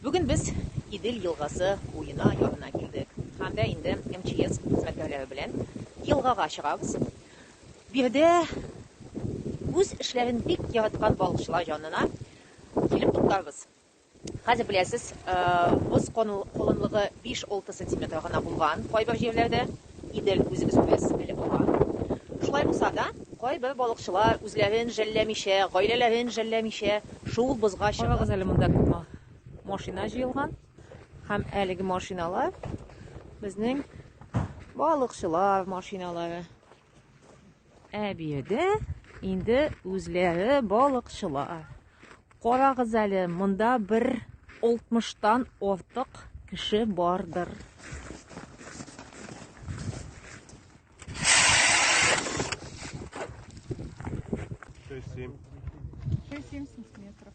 Бүген без Идел елгасы буена янына килдек һәм дә инде МЧС хезмәткәрләре белән елгага чыгабыз. Биредә үз эшләрен бик яраткан балыкчылар янына килеп туктарбыз. Хәзер беләсез, боз колынлыгы биш-алты сантиметр гына булган кайбер җирләрдә. Идел үзебез күрәс әле монда. Шулай булса да, кайбер балыкчылар үзләрен жәлләмичә, гаиләләрен жәлләмичә, шул бозга чыгып. Карагыз әле монда күп машина җыелган. Һәм әлеге машиналар безнең балыкчылар машиналары. Ә биредә инде үзләре балыкчылар. Карагыз әле, монда бер 60-тан артык кеше бардыр. Шесть-семь. Шесть-семь сантиметров.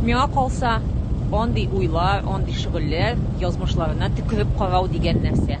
Миңа калса, андый уйлар, андый шөгыльләр язмышларына төкереп карау дигән нәрсә.